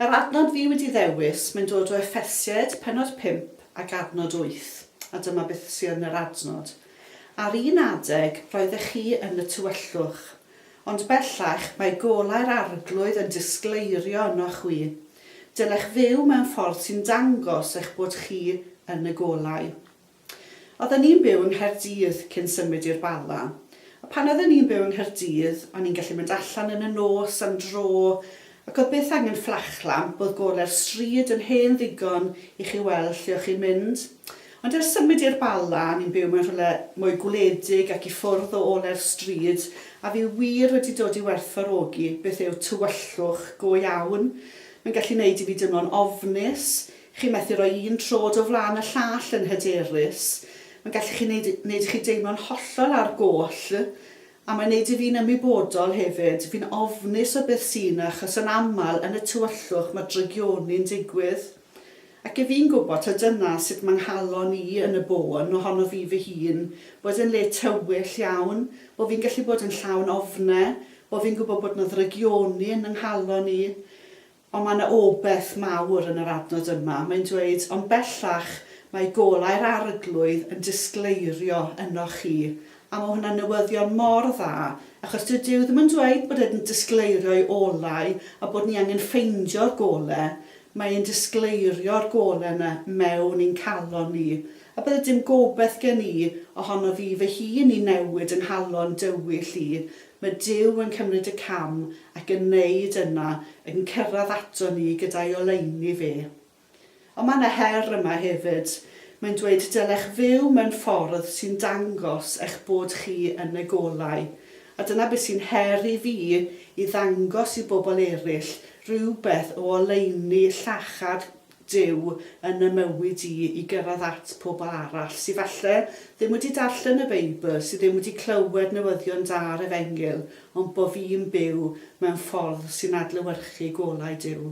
Yr adnod fi wedi ddewis, mae'n dod o Effesied, pennod 5 ac adnod 8, a dyma beth sydd yn yr adnod, Ar un adeg roeddech chi yn y tywyllwch, ond bellach mae golau'r Arglwydd yn disgleirio ynoch chwi. Dylech fyw mewn ffordd sy'n dangos eich bod chi yn y golau. Oedden ni'n byw yng Nghaerdydd cyn symud i'r Bala. A pan oedden ni'n byw yng Nghaerdydd, o'n i'n gallu mynd allan yn y nos am dro, ac oedd byth angen fflachlamp, oedd gole'r stryd yn hen ddigon i chi weld lle o'ch chi'n mynd. Ond ers symud i'r Bala, ni'n byw mewn rhywle mwy gwledig ac i ffwrdd o ole'r stryd, a fi wir wedi dod i werthfawrogi beth yw tywyllwch go iawn. Mae'n gallu 'neud i fi deimlo'n ofnus, Chi'n methu rhoi un trod o flaen y llall yn hyderus. Mae'n gallu chi wneud, wneud i chi deimlo'n hollol ar goll. A mae'n wneud i fi'n ymwybodol hefyd, fi'n ofnus o beth sy' 'na achos yn aml yn y tywyllwch mae drygioni'n digwydd. Ac 'yf fi'n gwybod taw dyna sut mae 'nghalon i yn y bôn ohono fi fy hun, bod yn le tywyll iawn, bo' fi'n gallu bod yn llawn ofne, bo' fi'n gwybod bod 'na ddrygioni yn 'nghalon i. Ond mae yna obaith mawr yn yr adnod yma, mae'n dweud, Ond bellach mae golau'r Arglwydd yn disgleirio ynoch chi. A mae hwnna'n newyddion mor dda, achos dyw Duw ddim yn dweud bod e'n disgleirio'i olau a bod ni angen ffeindio'r golau, mae e'n disgleirio'r golau yna mewn i'n calon ni. A bydde dim gobaith gen i ohono fi fy hun i newid yng nghalon dywyll i, Mae Duw yn cymryd y cam ac yn neud yna, ac yn cyrradd ato ni gyda'i oleuni fe. Ond mae yna her yma hefyd. Mae'n dweud dylech fyw mewn ffordd sy'n dangos eich bod chi yn y golau. A dyna beth sy'n her i fi, i ddangos i bobl eraill rywbeth o oleuni llachar Duw yn 'y mywyd i i gyrraedd at pobl arall sy falle ddim wedi darllen y Beibl, sy ddim wedi clywed newyddion da yr Efengyl, ond bo' fi'n byw mewn ffordd sy'n adlewyrchu golau Duw.